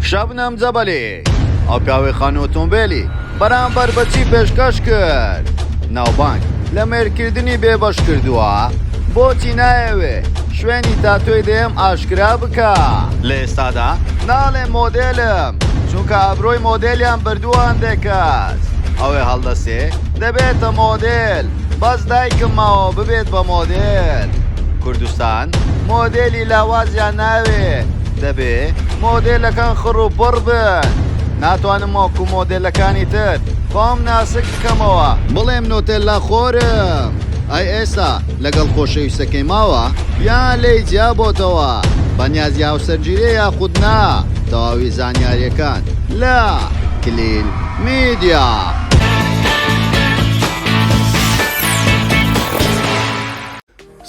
شەبنەم جەبەلی، ئەو پیاوەی خانوو ئۆتۆمبێلی بەرامبەر بە چی پێشکەش کرد؟ ناوبانگ لە مەیلکردنی بێبەش کردووە؟ بۆچی نایەوێ شوێنی تاتۆی دەیەم ئاشکرا بکا؟ لە ئێستادا ناڵێم مۆدێلم، چونکە ئابرۆی مۆدێلیان بردووە هەندێک کەس، ئەوێ هەڵدەسێ دەبێتە مۆدێل، بەس دایکم ماوە ببێت بە مۆدێل. کوردستان مۆدێلی لاوازیان ناوێ. دەبێ مۆدێلەکان خڕ و بڕ بن. ناتوانم وەکو مۆدێلەکانی تر خۆم ناسک بکەمەوە بڵێم نۆتێللا خۆرم. ئەی ئێستا لەگەڵ خۆشەویستەکەی ماوە؟ یان لێی جیابۆتەوە؟ بەنیازی هاوسەرگیریە یاخود نا؟ تەواوی زانیاریەکان لە، کلیل میدیا.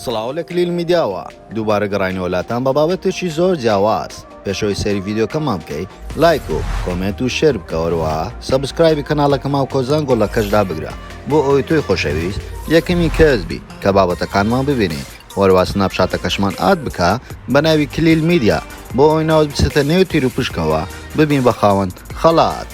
سڵاو لە کلیل میدیاوە، دووبارە گەڕاینەوە لاتان بە بابەتێکی زۆر جیاواز، پێش ئەوەی سەیری ڤیدیۆکەمان بکەی لایک و کۆمێنت و شێر بکە وەروەها سەبسکرایبی کەناڵەکەماو کۆزان گۆڵەکەش دابگرە بۆ ئەوەی تۆی خۆشەویست یەکەمین کەس بی کە بابەتەکانمان ببینی وەروەها سناپ چاتەکەشمان ئاد بکە بە ناوی کلیل میدیا بۆ ئەوەی ناوت بچێتە نێو تیروپشکەوە ببین بە خاوەن خەڵات.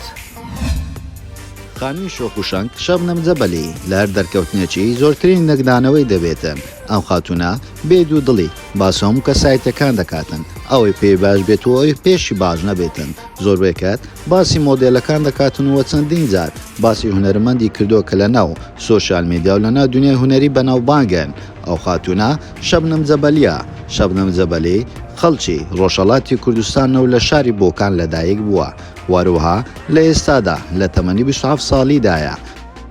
خانمی شۆخ و شەنگ، شەبنەم جەبەلی، لە هەر دەرکەوتنێکی، زۆرترین لێکدانەوەی دەبێتن. ئەم خاتوونە، بێ دوو دڵی، باس هەموو کەسایتییەکان دەکاتن. ئەوەی پێی باش بێت و ئەوی پێشی باش نەبێتن. زۆربەی کات، باسی مۆدێلەکان دەکاتن و چەندین جار، باسی هونەرمەندی کردووە کە لە ناو، سۆشیال میدیا و لە ناو دونیای هونەری بەناوبانگن. ئەو خاتوونە، شەبنەم جەبەلییە. شەبنەم جەبەلی، خەڵکی، ڕۆژهەڵاتی کوردستانە و لە شاری بۆکان لە دایک بووە. هەروەها لە ئێستادا لە تەمەنی بیست و حەفت ساڵیدایە.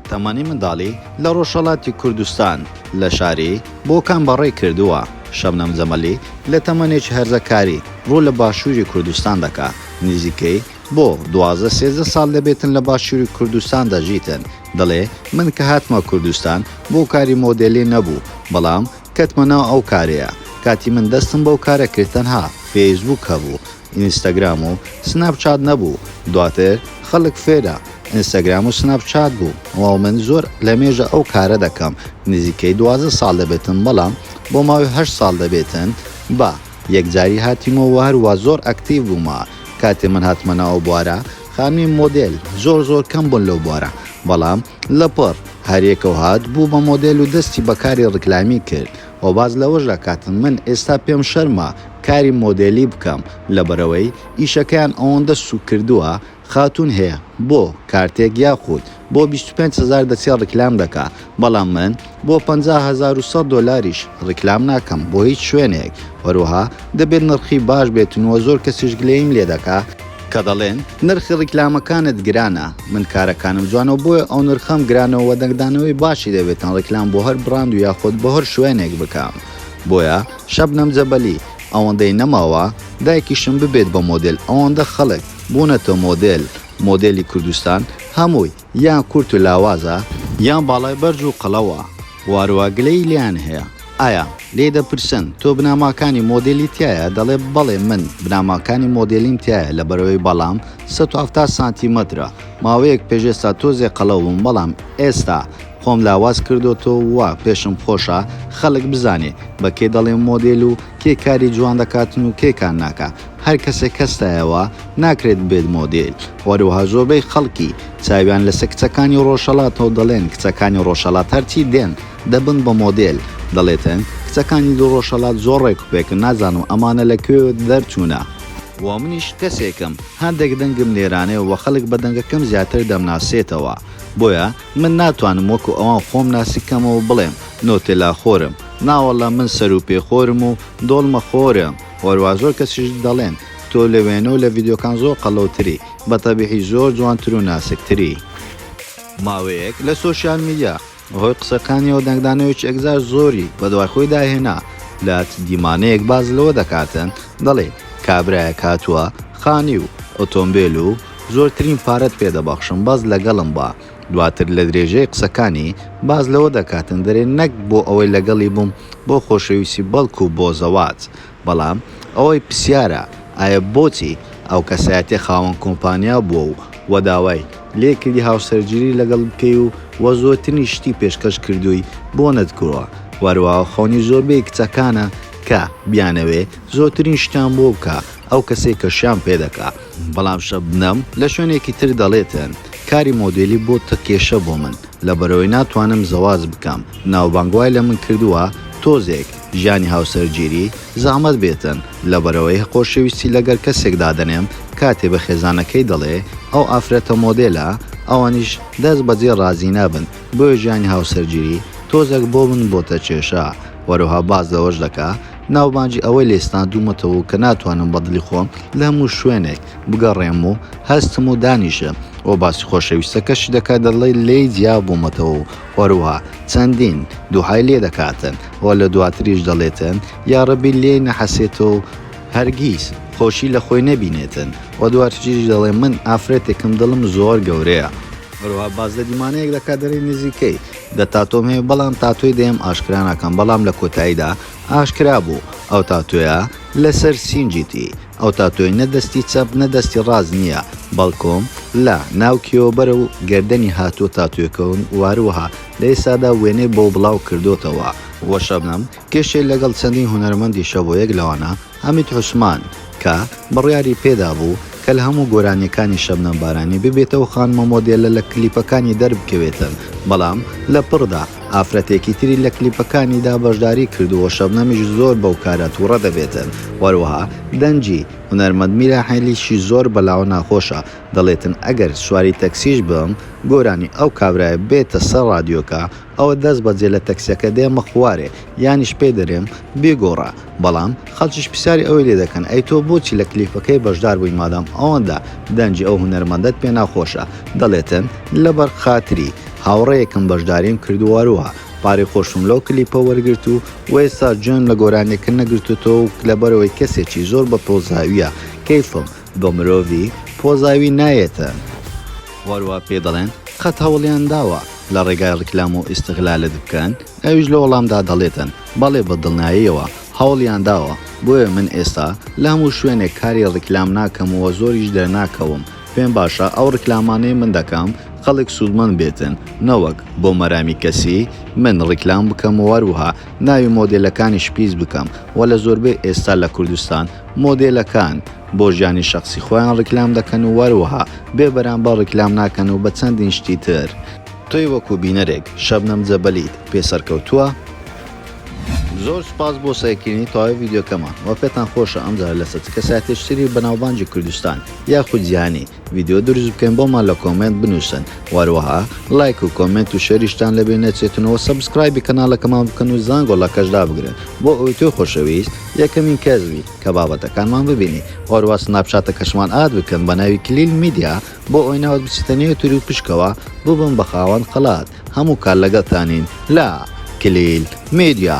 تەمەنی منداڵی لە ڕۆژهەڵاتی کوردستان لە شاری، بۆکان بەڕێ کردووە. شەبنەم جەمەلی لە تەمەنێکی هەرزەکاری ڕوو لە باشووری کوردستان دەکا. نزیکەی بۆ دوازدە سێزدە ساڵ دەبێتن لە باشووری کوردستان دەژیتن. دەڵێ من کە هاتمە کوردستان بۆ کاری مۆدێلی نەبوو، بەڵام کەتمە ناو ئەو کارەیە. کاتی من دەستم بەو کارە کرد تەنها فەیسبووک هەبوو. ئینستاگرام و سناپ چات نەبوو دواتر خەلک فێرە ئینستاگرام و سناپ چات بوو وە من زۆر لەمێژە ئەو کارە دەکەم نزیکەی دوازدە سال دەبێتن بەڵام بۆ ماوەی هەشت سال دەبێتن بە یەکجاری هاتیمۆ وە هەروا زۆر ئەکتیڤ بوومە کاتێ من هاتمە ناو ئەو بوارە خانمی مۆدێل زۆر زۆر کەم بوون لەو بوارە بەڵام لەپڕ هەریەکەو هات بوو بە مۆدێل و دەستی بەکاری ڕیکلامی کرد وە باس لەوەش دەکات من ئێستا پێم شەرمە کاری مۆدێلی بکەم لەبەرئەوەی ئیشەکەیان ئەوەندە سوک کردوە خاتون هەیە بۆ کارتێک یاخود بۆ بیست و پێنج هەزار دەچێ ڕیکلام دەکا بەڵام من بۆ پەنجا هەزار و سەد دۆلاریش ڕیکلام ناکەم بۆ هیچ شوێنێک هەروەها دەبێت نرخی باش بێتنوە زۆر کەسیش گلەییم لێدەکا کە دەڵێن نرخی ڕیکلامەکانت گرانە من کارەکانم جوانەوە بۆیە ئەو نرخەم گرانەوە وە دەنگدانەوەی باشی دەبێتن ڕیکلام بۆ هەر بڕاند و یاخود بۆ هەر شوێنێک بکەم بۆیە شەبنەم جەبەلی ئەوەندەی نەماوە دایکیشم ببێت بە مۆدێل ئەوەندە خەڵک بوونەتە مۆدێل مۆدێلی کوردستان هەمووی یان کورت و لاوازە یان باڵای بەرز و قەڵەوە واروا گلەیی لێیان هەیە ئایا لێی دەپرسن تۆ بناماکانی مۆدێلی تیایە دەڵێ بەڵێ من بناماکانی مۆدێلیم تیایە لەبەرئەوەی باڵام سەد و حەفتا سانتیمەترە ماوەیەک پێش ئێستا تۆزێ قەڵەو بووم بەڵام ئێستا خۆم لاواز کردۆتەوە پێشم خۆشە خەڵک بزانێ بە کێ دەڵێم مۆدێل و کێ کاری جوان دەکاتن و کێ کار ناکا هەر کەسێک هەستایەوە ناکرێت ببێت مۆدێل، هەروەها زۆربەی خەڵکی چاویان لەسەر کچەکانی ڕۆژهەڵاتە و دەڵێن کچەکانی ڕۆژهەڵات هەرچی دێن دەبن بە مۆدێل، دەڵێتن کچەکانی ڕۆژهەڵات زۆر ڕێک و پێکن، نازانم ئەمانە لە کوێوە دەرچوونە؟ و منیش کەسێکم هەندێک دەنگم نێرانەیە و خەڵک بە دەنگەکەم زیاتر دەمناسێتەوە، بۆیە من ناتوانم وەکو ئەوان خۆم ناسک کەمەوە و بڵێم نۆتێلا خۆرم، ناوەڵڵا من سەروپێ خۆرم و دۆڵمە خۆرم، وەروازۆر کەسیش دەڵێن تۆ لە وێنەو لە ڤیدیۆکان زۆر قەڵەوتری بە تەبیعی زۆر جوانتر و ناسک تری. ماوەیەک لە سۆشیال میدیا بەهۆی قسەکانیەوە دەنگدانەوەیەکی ئەکزار زۆری بەدوای خۆیدا هێنا لە چ دیمانەیەک باس لەوە دەکاتن دەڵێت کابرایەک هاتوە خانی و ئۆتۆمبێل و زۆرترین پارەت پێ دەبەخشم بەس لەگەڵم بە دواتر لە درێژەی قسەکانی باس لەوە دەکاتن دەرێ نەک بۆ ئەوەی لەگەڵی بووم بۆ خۆشەویستی بەڵکو بۆ زەواج بەڵام ئەوەی پسیارە ئایە بۆچی ئەو کەسایەتیە خاوەن کۆمپانیا بووە و وە داوای لێ کردی هاوسەرگیری لەگەڵ بکەی و وە زۆرترین شتی پێشکەش کردووی بۆ نەتکووە وە هەروەها خەونی زۆربەی کچەکانە کە بیانەوێ زۆرترین شتیان بۆ بکا ئەو کەسەی کە شیان پێ دەکا. بەڵام شەبنەم لە شوێنێکی تر دەڵێتن کاری مۆدێلی بۆتە کێشە بۆ من لەبەرئەوەی ناتوانم زەواج بکەم ناوبانگ وای لە من کردوە تۆزێک ژیانی هاوسەرگیری زەحمەت بێتن لەبەرئەوەی خۆشەویستی لەگەل کەسێک دادەنێم کاتێ بە خێزانەکەی دەڵێ ئەو ئافرەتە مۆدێلە ئەوانیش دەست بەجێ ڕازی نابن بۆیە ژیانی هاوسەرگیری تۆزێک بۆ من بۆتە کێشە وەروها باس لەوەش دەکا ناوبانگی ئەوەی لێی ستاندوومەتەوە کە ناتوانم بە دڵی خۆم لە هەموو شوێنێک بگەڕێم و هەستم و دانیشە و باسی خۆشەویستەکەشی دەکات دەڵێت لێی جیا بوومەتەوە و هەروەها چەندین دوعای لێ دەکاتن و لە دواتریش دەڵێتن یاڕەبی لێی نەحەسێتەوە و هەرگیز خۆشی لە خۆی نەبینێتن و دواتریش دەڵێت من ئافرەتێکم دڵم زۆر گەورەیە. هەروەها باس لە دیمانەیەک دەکات دەڵێت نزیکەی دە تاتۆم هەیە بەڵام تاتۆی دەیەم ئاشکرا ناکەم بەڵام لە کۆتاییدا ئاشکرا بوو ئەو تاتۆیە لەسەر سینگیتی، ئەو تاتۆی نە دەستی چەپ نە دەستی ڕاست نییە، بەڵکوم لە ناو کێوە بەرەو گەردەنی هاتووە تاتۆکەون و هەروەها لە ئێستادا وێنەی بۆ بڵاو کردۆتەوە. و شەبنەم کێشێ لەگەڵ چەندین هونەرمەندی شەبۆ یەک لەوانە حەمید عوسمان، کە بڕیاری پێدابوو کە لە هەموو گۆرانییەکانی شەبنەم بارانی ببێتە ئەو خانمە مۆدێلە لە کلیپەکانی دەربکەوێتن، بەڵام لە پڕدا ئافرەتێکی تری لە کلیپەکانیدا بەشداری کردووە شەبنەمیش زۆر بەو کارە توڕە دەبێتن و هەروەها دەنگی هونەرمەند میراحێلیشی زۆر بەلاوە ناخۆشە دەڵێتن ئەگەر سواری تەکسیش بم گۆرانی ئەو کابرایە بێتە سەر ڕادیۆکە ئەوە دەست بەجێ لە تەکسیەکە دێمە خوارێ یانیش پێ دەرێم بیگۆڕە بەڵام خەڵکیش پسیاری ئەوەی لێ دەکەن ئەی تۆ بۆچی لە کلیپەکەی بەشدار بووی مادام ئەوەندە دەنگی ئەو هونەرمەندەت پێ ناخۆشە دەڵێتن لەبەر خاتری هاوڕێیەکم بەشداریم کردووەروها پارەی خۆشم لەو کلیپە وەرگرت و وئێستا گوێم لە گۆرانیەکە نەگرتۆتەوە و لەبەرئەوەی کەسێکی زۆر بە پۆزاویە کەیفم بۆ مرۆڤی پۆزاوی نایێتە. وار وا پێ دەڵێن قەت هەوڵیان داوە لە ڕێگای ڕیکلام و ئیستغلالت بکەن؟ ئەویش لە وەڵامدا دەڵێتن بەڵێ بە دڵنایەیەوە هەوڵیان داوە، بۆیە من ئێستا لە هەموو شوێنێک کاری ڕیکلام ناکەم و زۆریش دەرناکەوم، پێم باشە ئەو ڕیکلامانەی من دەکەم خەڵک سوودمەند بێتن نەوەک بۆ مەرامی کەسی من ڕیکلام بکەم و هەروەها ناوی مۆدێلەکانیش پیس بکەم و لە زۆربەی ئێستا لە کوردستان مۆدێلەکان بۆ ژیانی شەخسی خۆیان ڕیکلام دەکەن و وەروەها بێ بەرامبەر ڕیکلام ناکەن و بە چەندین شتی تر. تۆی وەکو بینەرێک شەبنەم جەبەلیت پێ سەرکەوتووە؟ زۆر سوپاس بۆ سەیرکردنی تەواوی ڤیدیۆکەمان وە پێتان خۆشە ئەمجارە لەسەر چ کەسایەتێکی تری بەناوبانگی کوردستان یاخود جیهانی ڤیدیۆ دروست بکەن بۆمان لە کۆمێنت بنووسن وەروەها لایک و کۆمێنت و شەریشتان لەبێ نەچێتنەوە سەبسکرایبی کەناڵەکەمان بکەن و زان گۆڵەکەش دابگرن بۆ ئەوی تۆ خۆشەویست یەکەمین کەس بی کە بابەتەکانمان ببینی وەروە سناپچاتەکەشمان ئاد بکەن بە ناوی کلیل میدیا بۆ ئەوی ناوت بچێتە نێو تور و پشکەوە ببن بە خاوەن قەڵات هەموو کار لەگەڵتانین لا کلیل میدیا